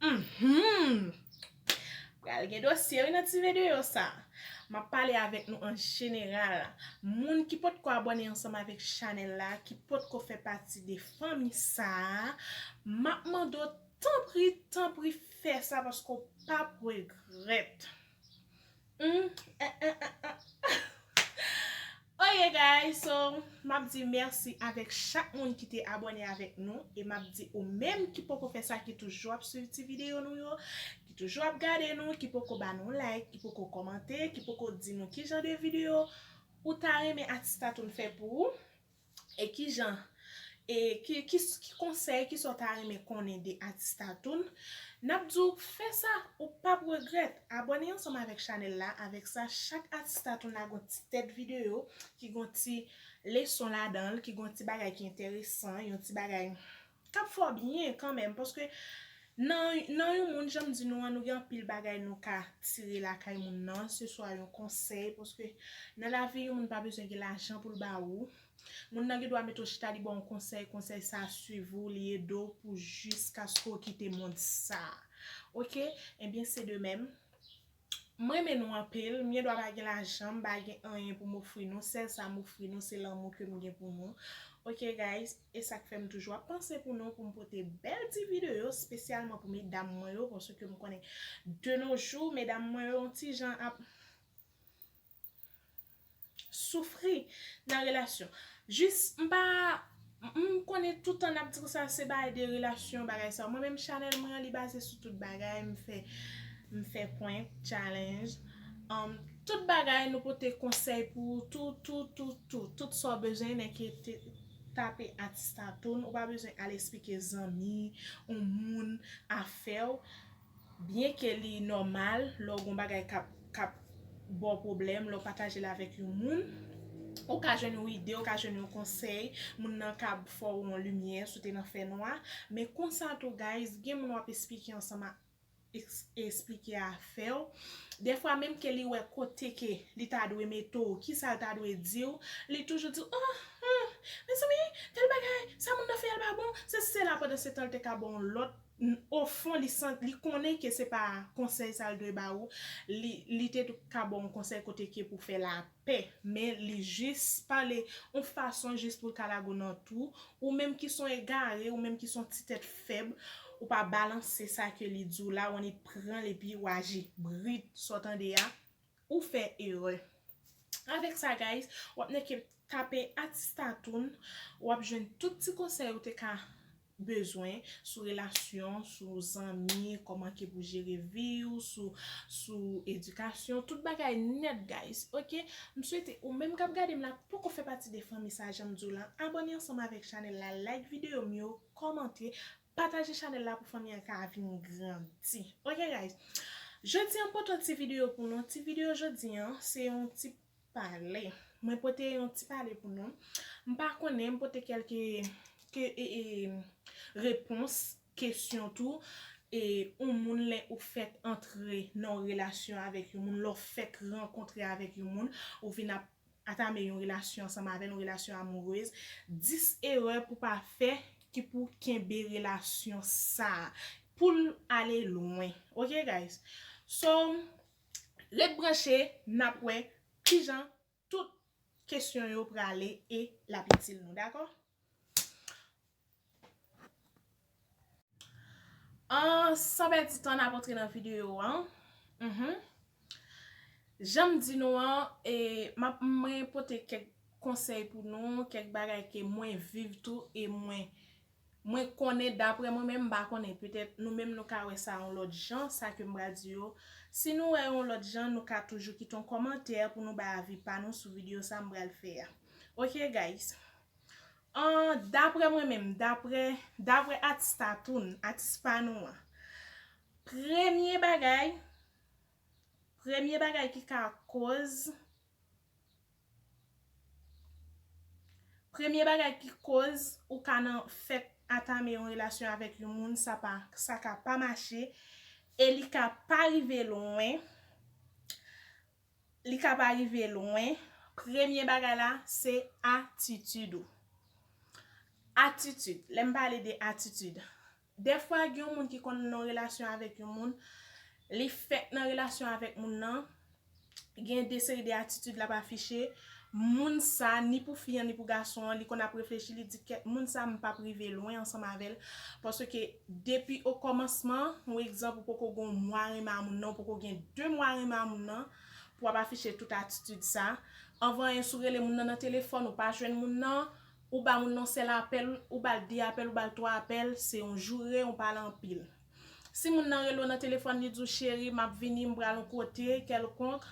Mhumm pral gen dosye wi nan ti vedeyo sa map pale avèk nou an jeneral moun ki potko abòne ansanm avèk chanèl la ki potko fè pati de fanmi sa map mande w tanpri tanpri fè sa paske w pap regrèt humm eehh eehh. Oh yeah guys so map di merci avek chak moun ki te abone avek nou e map di ou menm ki poko fè sa ki toujou ap swiv ti video nou yo ki toujou ap gade nou ki poko ba nou like ki poko komante ki poko di nou kijan de video ou ta renmen Artistatoon fè pou ou e kijan E ki ki ki konsèy ki sa w ta renmen konnen de Atis Tatoune? N ap di w fè sa ou p ap regrèt! Abòne ansanm avèk chanèl la, avèk sa chak Atis Tatoune la gon ti tèt videyo ki gon ti leson ladan l, ki gon ti bagay ki enteresan, yon ti bagay k ap fè w byen kanmenm paske nan nan yon moun jan m di nou an nou gen anpil bagay nou ka tire lakay moun nan, se swa yon konsèy paske nan lavi yon moun pa bezwen gen lajan pou l ba ou, Moun nan gen dwa mete w chita li ba w yon konsèy, konsèy sa a swiv ou, li ede w pou jiskaske w kite mond sa a. Ok, ebyen se de mèm. M renmen nou anpil, m gen dwa pa gen lajan, m pa gen anyen pou m ofri nou, sèl sa m ofri nou se lanmou ke m gen pou nou. Ok guys, e sa k fè m toujou ap panse pou nou pou m pote bèl ti videyo spesyalman pou medam mwen yo paske m konnen de no jou medam mwen yo yon ti jan ap soufri nan relasyon jis m pa m konnen toutan nap di konsa se bay de relasyon bagay sa mwen menm chanèl mwen an li baze sou tout bagay m fè m fè prank chalenj an tout bagay nou pote konsèy pou ou tou tou tou tou tout sa w bezwen nè ke te tape atistatoun ou pa bezwen al esplike zanmi ou moun afè w. Byen ke li nòmal lè w gen yon bagay k ap ba w pwoblèm, lè w pataje l avèk yon moun, ou ka jwenn yon ide, ou ka jwenn yon konsèy, moun nan ka fè w yon limyè si w te nan fè nwa. Men konsa tou guys, gen moun w ap esplike ansanm ak esplike a fè w. Dèfwa menm ke li wè kote ke li ta dwe mete w, kisa l ta dwe di w, li toujou di w, oh, humm, mezanmi, tèl bagay, sa moun nan fè a l pa bon, sesi sela pandan se tan l te ka ba w yon lòt n o fon li santi li konnen ke se pa konsèy sa l dwe ba ou li li te ka ba w yon konsèy kote ke pou fè lapè men li jis pale yon fason jis pou l ka lage w nan twou ou menm ki s on egare ou menm ki s on ti tèt fèb ou pa balanse sa ke li di w la w annik pran l epi w aji brit sa w tande a Ou fè erè. Avèk sa guys wap nan ke tape Atistatoun wap jwenn tout ti konsèy ou te ka bezwen sou relasyon, sou zanmi, kòman ke pou jere vi ou, sou sou edikasyon, tout bagay nèt guys ok. M swete ou menm kap gade m la poko fè pati de fanmi sa janm diw lan abòne ansanm avèk chanèl la like videyo m yo, kòmante, Pataje chanel la pou fanmi an ka vin grandi ok guys Jodi an m pote yon ti video pou nou ti video jodi an se yon ti pale mwen pote yon ti pale pou nou m pa konnen m pote kelke ke repons kesyon tou e yon moun lè ou fèk antre nan yon relasyon avèk yon moun lè w fèk rankontre avèk yon moun ou vin ap Atame yon relasyon ansanm avè l, yon relasyon amoureuse, 10 erè pou pa fè ki pou kenbe relasyon sa poul ale lwen ok guys so ret branche nap wè kijan tout kesyon yo prale e lap itil nou dakò. San pèdi tan nap antre nan video an Janm di nou an mwen pote kèk konsèy pou nou kèk bagay ke mwen viv tou e mwen konnen daprè mwen menm m pa konnen petèt nou menm nou ka wè sa yon lòt jan sa kem pral di yo si nou wè yon lòt jan nou ka toujou kite yon kòmantè pou nou bay avi pa nou sou video sa m pral fè a ok guys An, daprè mwen menm, daprè, daprè atis tatoun, atis pa nou an, premye bagay, premye bagay ki ka koz, premye bagay ki koz ou ka nan fèk antame yon relasyon avèk yon moun sa pa, sa ka pa mache e li ka pa rive lwen, Li ka pa rive lwen. Premye bagay la, se atitid ou. Atitid, lè m pale de atitid. Dèfwa gen yon moun ki konn nan yon relasyon avèk yon moun, li fèk nan relasyon avèk moun nan, gen de seri de atitid l ap afiche. Moun sa ni pou fi an ni pou gason an li konn ap reflechi li di kèt moun sa m pap rive lwen ansanm avèl paske depi o kòmansman yon egzanp ou poko gon mwa renmen a moun nan ou poko gen 2 mwa renmen a moun nan pou wap afiche tout atitid sa anvan anyen sou rele moun nan nan telefòn ou pa jwenn moun nan ou ba moun nan yon sèl apèl ou bal 2 apèl ou bal 3 apèl se yon joure ou pale anpil. Si moun nan rele w nan telefòn li di w cheri m ap vini m pral yon kote kèlkonk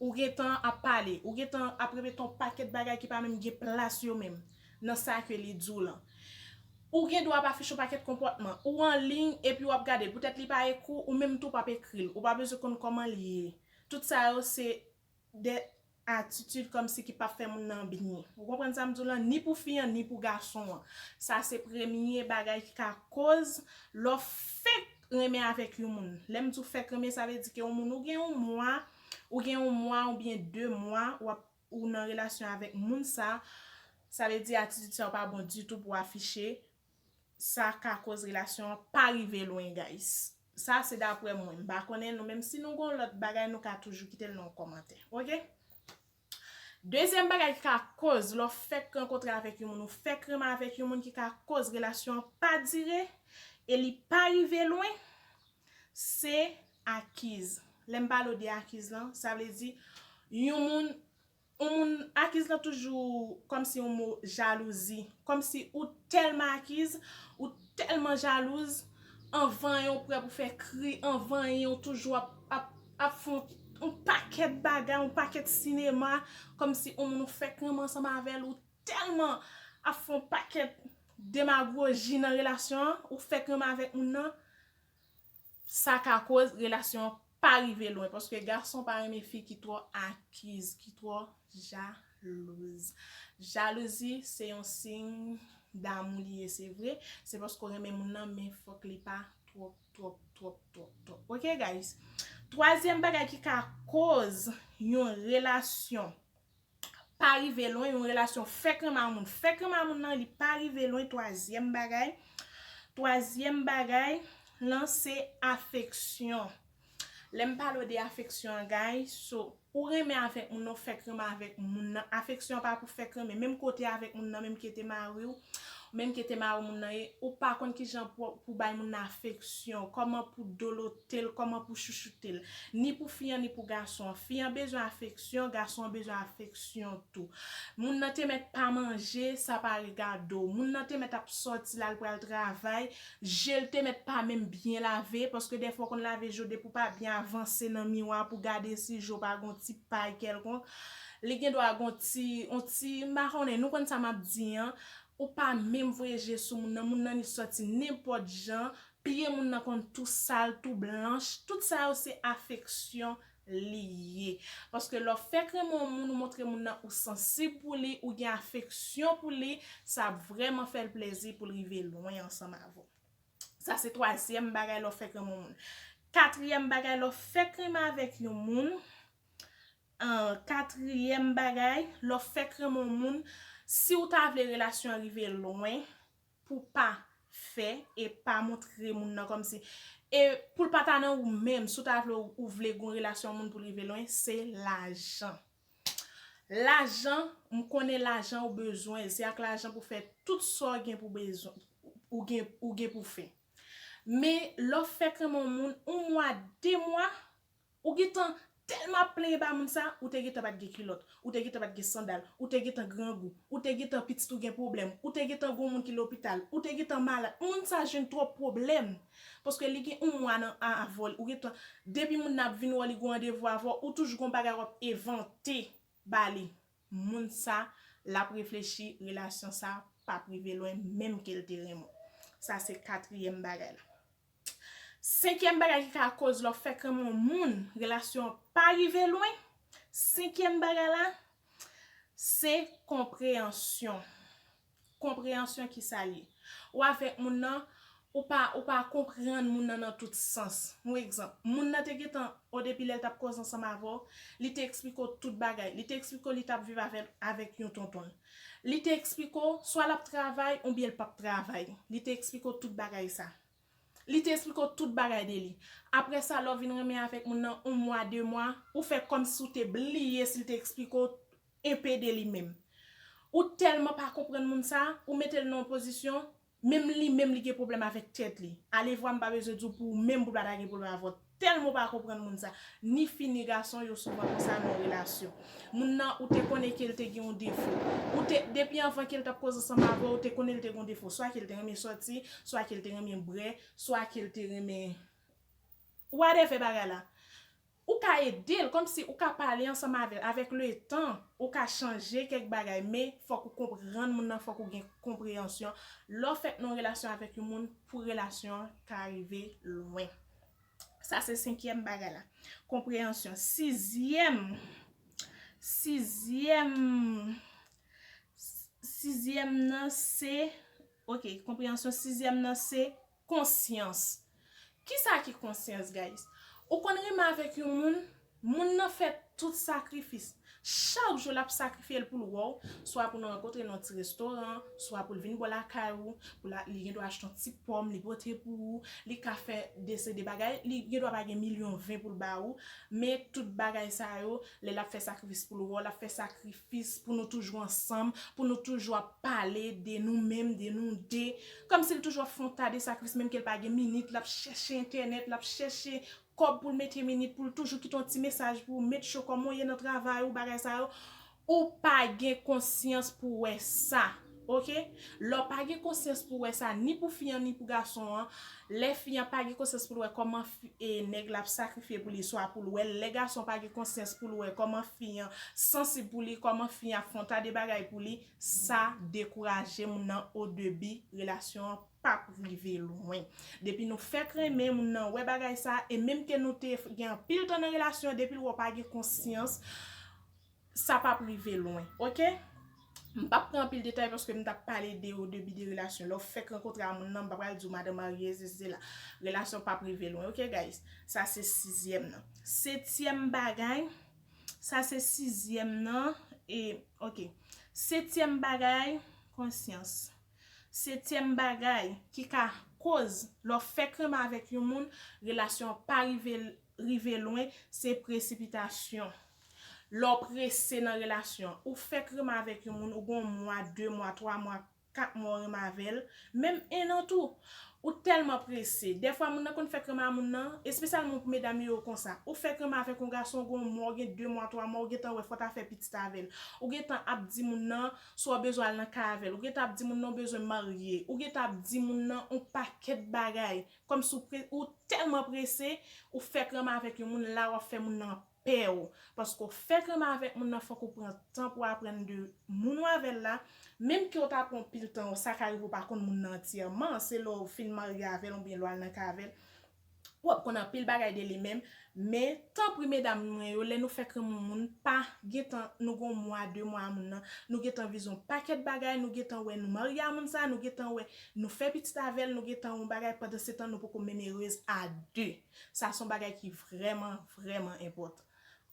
ou gen tan ap pale ou gen tan ap repete yon pakèt bagay ki pa menm gen plas yo menm nan sa ke li di w lan ou gen dwa ap afiche yon pakèt konpòtman ou anliy epi w ap gade l poutèt li pa ekri w ou menm tou w p ap ekri l ou pa bezwen konn kòman l ye tout sa yo se de atitid kòmsi ki pap fè moun nan byen. Ou konprann sa m di w lan? Ni pou fi an, ni pou gason an. Sa se premye bagay ki ka koz lè w fenk renmen avèk yon moun. Lè m di w fèk renmen, sa vle di ke yon moun ou gen yon mwa, ou gen yon mwa oubyen de mwa w ap, ou nan relasyon avèk moun sa, sa vle di atitid sa yo pa bon ditou pou w afiche sa ka koz relasyon an pa rive lwen guys sa se daprè mwen m pa konnen nou menm si nou gon lòt bagay nou ka toujou kite l nan kòmantè ok dezyèm bagay ki ka koz lè w fèk rankontre avèk yon moun ou fèk renmen avèk yon moun ki ka koz relasyon an pa dire e li pa rive lwen se akiz lè m pale w de akiz lan sa vle di yon moun On moun akiz lan toujou kòmsi on mo jalouzi, kòmsi ou tèlman akiz, ou tèlman jalouz, anvanyen ou prè pou fè kri, anvanyen ou toujou ap, ap, ap fon on pakèt bagay, on pakèt sinema, kòmsi on moun ou fèk renmen ansanm avèl, ou tèlman ap fon pakèt demagoji nan relasyon an, ou fèk renmen avèk moun nan. Sa ka koz relasyon an pa rive lwen paske gason pa renmen fi ki twò akiz, ki twò jalouz. Jalouzi se yon siy damou li ye se vre, se paske w renmen moun nan men fòk li pa twòp twòp twòp twòp twòp ok guys. Twazyèm bagay ki ka koz yon relasyon pa rive lwen yon relasyon fèk renmen a moun fèk renmen a moun nan li pa rive lwen twazyèm bagay twazyèm bagay lan se afeksyon lèm pale w de afeksyon an gay so ou renmen avèk moun nan ou fèk renmen avèk moun nan afeksyon an pa pou fèk renmen menm kote avèk moun nan menm ki te mariw. Ou menm ke Temaro moun nan ye, ou pa konn ki jan pou bay moun nan afeksyon, kòman pou dolote l, kòman pou chouchoute l. Ni pou fi an, ni pou gason an. Fi an bezwen afeksyon, gason an bezwen afeksyon tou. Moun nan te mèt pa manje, sa pa regade w. Moun nan te mèt ap sòti la, l pral travay, je l te mèt pa menm byen lave, paske dèfwa ou konn lave je w depi ou pa byen avanse nan miwa pou gade si je w pa gen yon ti pay kèlkonk. Li gen dwa gon ti, on ti, m pa konnen, nou konn sa m ap di an, ou pa menm voye je sou moun nan, moun nan li sòti nenpòt jan, pye moun nan konn tou sal, tou blanch, tout sa yo se afeksyon li ye. Paske lè w fèk renmen on moun, ou montre moun nan ou sansib pou li, ou gen afeksyon pou li, sa ap vrèman fè l plezi pou l rive lwen ansanm avè w. Sa se twazyèm bagay lè w fèk renmen on moun. Katriyèm bagay lè w fèk renmen avèk yon moun, Katriyèm bagay, lè w fèk renmen yon moun, si w ta vle relasyon an rive lwen, pou w pa fè e pa montre moun nan kòmsi, e pou l pa ta nan ou menm, si w ta vle ou vle gon relasyon yon moun pou l rive lwen, se lajan. Lajan, m konnen lajan ou bezwen, se ak lajan pou w fè tout sa w gen pou bezwen, ou gen, ou gen pou w fè. Men, lè w fèk renmen yon moun, yon mwa, de mwa, Ou gentan tèlman ap plenyen ba moun sa, ou te gentan pat gen kilòt, ou te gentan pat gen sandal, ou te gentan grangou, ou te gentan pitit ou gen pwoblèm, ou te gentan gon moun ki lopital, ou te gentan malad, moun sa jwenn twòp pwoblèm, paske li gen yon mwa nan an avè w, ou gentan, depi moun nan ap vin wè w li gon randevou avè w, ou toujou gon bagay wap evante ba li. moun sa lap reflechi relasyon sa pap rive lwen menm kel te renmen w sa se katriyèm bagay la senkyèm bagay ki ka koz lè w fèk renmen yon moun relasyon an pa rive lwen senkyèm bagay la se konpreyansyon Konpreyansyon kisa l ye? Ou avèk moun nan, ou pa ou pa konprann moun nan nan tout sans. Yon egzanp, moun nan te gentan o depi lè l t ap koze ansanm avè w, li te eksplike w tout bagay. Li te eksplike w li t ap viv avè avèk yon tonton l. Li te eksplike w swa l ap travay oubyen l p ap travay. Li te eksplike w tout bagay sa. Li te esplike w tout bagay de li. Apre sa lè w vin renmen avèk moun nan yon mwa, de mwa, ou fè kòm si w te bliye si l te esplike w enpe de li menm. Ou tèlman pa konprann moun sa, ou mete l nan yon pozisyon, menm li menm li gen pwoblèm avèk tèt li. Alevwa m pa bezwen di w pou ou menm pou w pa ta gen pwoblèm avè w. Telman pa konprann moun sa. Ni fi ni gason yo souvan konsa nan relasyon. Moun nan ou te konnen kel te gen yon defo. Ou te, depi anvan kel tap koze ansanm avèw ou te konnen li te gen yon defo. Swa kel te renmen sòti, swa kel te renmen brè, swa kel te renmen whatever bagay la. Ou ka edel, komsi ou ka pale ansanm avèl. Avèk le tan, ou ka chanje kèk bagay. Men, fòk ou konprann moun nan, fòk ou gen konpreyansyon. Lè w fèk nan yon relasyon avèk yon moun, pou relasyon an ka rive lwen. Sa se senkyèm bagay la. Konpreyansyon. Sizyèm, sizyèm, sizyèm nan se, ok, konpreyansyon, sizyèm nan se konsyans. Kisa ki konsyans, guys? Ou konn renmen avèk yon moun? Moun nan fè tout sakrifis. Chak jou l ap sakrifye l pou l wè w, swa pou nou rankontre nan yon ti restoran, swa pou l vin bò lakay ou, pou l a li gendwa achte yon ti pòm li pote pou ou, li ka fè de se de bagay, li gendwa pa gen milyon ven pou l ba ou, men tout bagay sa yo, lè l ap fè sakrifis pou l wè w, l ap fè sakrifis pou nou toujou ansanm, pou nou toujou ap pale de nou menm, de nou de, kòmsi l toujou ap fè yon ta de sakrifis menm ke l pa gen minit, l ap chèche entènèt, l ap chèche kòb poul mete minit poul toujou kite yon ti mesaj pou ou met cho kòman ou ye nan travay ou bagay sa yo ou pa gen konsyans pou wè sa ok lè ou pa gen konsyans pou wè sa ni pou fi an ni pou gason an lè fi an pa gen konsyans poul wè kòman nèg la ap sakrifye pou li swa poul wèl lè gason pa gen konsyans poul wè kòman fi an sansib pou li kòman fi an ap fè yon ta de bagay pou li sa dekouraje moun nan odebi relasyon an. pap rive lwen. Depi nou fèk renmen, moun nan wè bagay sa, e menm ke nou te gen anpil tan nan relasyon an, depi l wè w pa gen konsyans, sa pap rive lwen. Ok? M pap pran anpil detay paske m t ap pale de o debi de relasyon. Lè w fèk rankontre a moun nan, m pa pral di w madan marye, sesi sela. Relasyon pap rive lwen. Ok guys? Sa se sizyèm nan. Setyèm bagay, sa se sizyèm nan, e, ok. Setyèm bagay, konsyans. Setyèm bagay ki ka koz lè w fèk renmen avèk yon moun relasyon an pa rive rive lwen se presipitasyon. Lè w prese nan relasyon, ou fèk renmen avèk yon moun ou gen yon mwa, 2 mwa, 3 mwa, 4 mwa w renmen avè l, menm 1 an tou, ou tèlman prese, dèfwa moun nan konn fèk renmen a moun nan, espesyalman pou medam yo yo konsa, ou fèk renmen avèk yon gason ou gen yon mwa, ou gen 2 mwa, 3 mwa ou gentan wè fò w ta fè pitit avè l, ou gentan ap di moun nan, Si w bezwen al nan kay avè l, ou gentan ap di moun nan ou bezwen marye, ou gentan ap di moun nan on pakèt bagay, kòmsi ou pre, ou tèlman prese, ou fèk renmen avèk yon moun, la w ap fè moun nan pè w. Paske ou fèk renmen avèk moun nan, fòk ou pran tan pou w aprann de moun ou avè l la, menm ke ou ta pran pil tan, sa ka rive ou pa konn moun nan antyèman, se lè w fin marye avè l oubyen lè w al nan kay avè l, Wap konn anpil bagay de li menm, men tanpri medam mwen yo lè nou fèk renmen yon moun pa gentan nou gon mwa de mwa a moun nan nou gentan vize yon pakèt bagay nou gentan wè nou marye a moun sa nou gentan wè nou fè pitit avèl nou gentan yon bagay pandan se tan nou poko menm erez a de sa son bagay ki vrèman vrèman enpòtan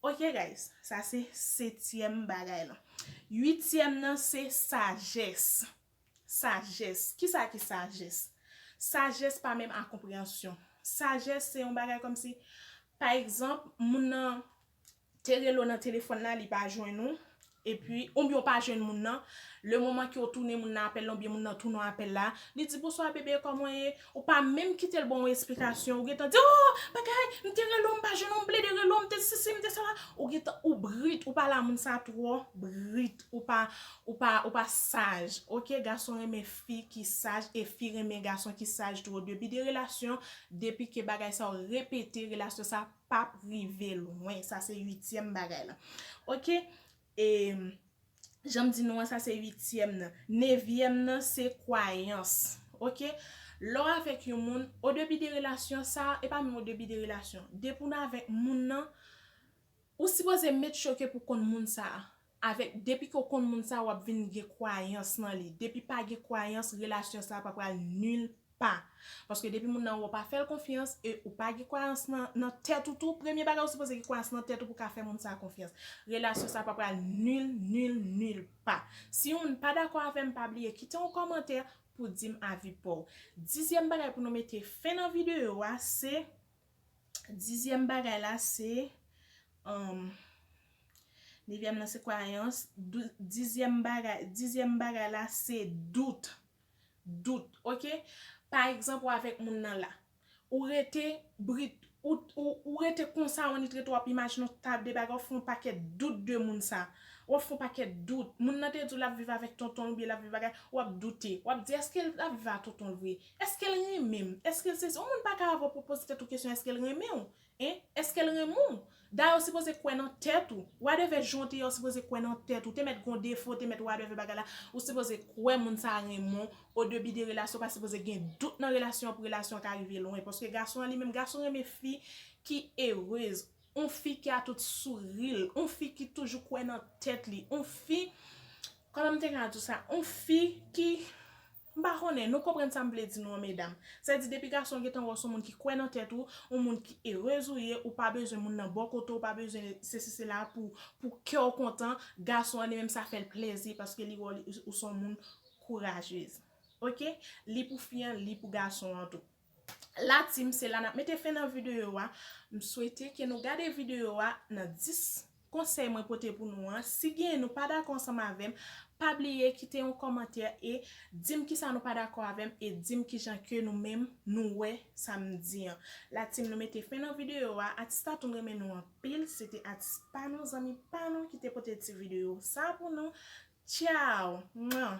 ok guys sa se setyèm bagay lan uityèm nan se sajès. Sajès, kisa ki sajès? Sajès pa menm a konpreyansyon. Sajès se yon bagay kòm si, pa egzanp, moun nan te rele w nan telefòn la, li pa jwenn ou, epi, oubyen ou pa jwenn moun nan, le moman ke w tounen moun nan apèl la, oubyen moun nan tounen w apèl la, li di bonswa bebe, kòman w ye? Ou pa menm kite l ban w esplikasyon, ou gentan di, oo, bagay, m te rele w, m pa jwenn ou, m plede rele w, m te sisi, m te sala, ou gentan, ou brit, ou pale a moun sa twò brit. Ou pa ou pa ou pa saj ok gason renmen fi ki saj e fi renmen gason ki saj tou odebi de relasyon depi ke bagay sa yo repete relasyon sa pap rive lwen sa se uityèm bagay la ok e janm di nou an sa se uityèm nan nevyèm nan se kwayans ok lè w avèk yon moun odebi de relasyon sa e pa menm odebi de relasyon depi w nan avèk moun nan Ou sipoze met choke pou konn moun sa avèk depi ke w konn moun sa wap vin gen kwayans nan li depi pa gen kwayans relasyon sa pa pral nil pa paske depi moun nan wè w pa fèl konfyans e ou pa gen kwayans nan tèt ou tou premye bagay ou sipoze gen kwayans nan tèt ou pou ka fè moun sa konfyans relasyon sa pa pral nil nil nil pa si ou pa dakò avèm pa bliye kite yon kòmantè pou dim avi paw dizyèm bagay pou nou mete fen nan videyo a se. Dizyèm bagay la se, Nevyèm nan se kwayans, dizyèm bagay, dizyèm bagay la se dout, dout, ok? Pa egzanp ou avèk moun nan la, ou rete brit, ou rete konsa on nit rete w ap imajine on ta de bagay, w ap fè on pakèt dout de moun sa, w ap fè on pakèt dout, moun nan te di w l ap viv avèk tonton l oubyen l ap viv ak, w ap doute, w ap di èske l ap viv ak tonton l vre? Èske l renmen m? Èske l sesi? Yon moun pa ka avè w pou w poze tèt ou kesyon èske l renmen w? Hein? Èske l renmen w? Dayè w sipoze kwè nan tèt ou. Whatever jan w te ye w sipoze kwè nan tèt ou. Te mèt gen w defo, te mèt whatever bagay la, ou sipoze kwè moun sa a renmen w. O debi de relasyon ou pa sipoze gen dout nan relasyon an pou relasyon an ka rive lwen. Paske gason an li menm, gason renmen fi ki erez. Yon fi ki a tout souri l. Yon fi ki toujou kwè nan tèt li. Yon fi, kòman m te ka di w sa? Yon fi ki. M pa konnen, nou konprann sa m vle di nou an medam. Sa di depi gason gentan wè w son moun ki kwè nan tèt ou, on moun ki erez ou ye, ou pa bezwen moun nan bò kote w, pa bezwen sesi sela pou pou kè w kontan, gason an li menm sa fè l plezi paske li wè w ou son moun kourajez. Ok, li pou fi an, li pou gason an tou. la team se la nap mete fen nan video a m swete ke nou gade video a nan 10 konsèy mwen pote pou nou an si gen nou pa dakò ansanm avèm pa bliye kite yon kòmantè e dim kisa nou pa dakò avèm e dim kijan ke nou menm nou wè sa m di an la team nou mete fen nan video a atis la tou m renmen nou anpil se te atis pa nou zanmi pa nou ki te pote ti video sa pou nou tchao mwah.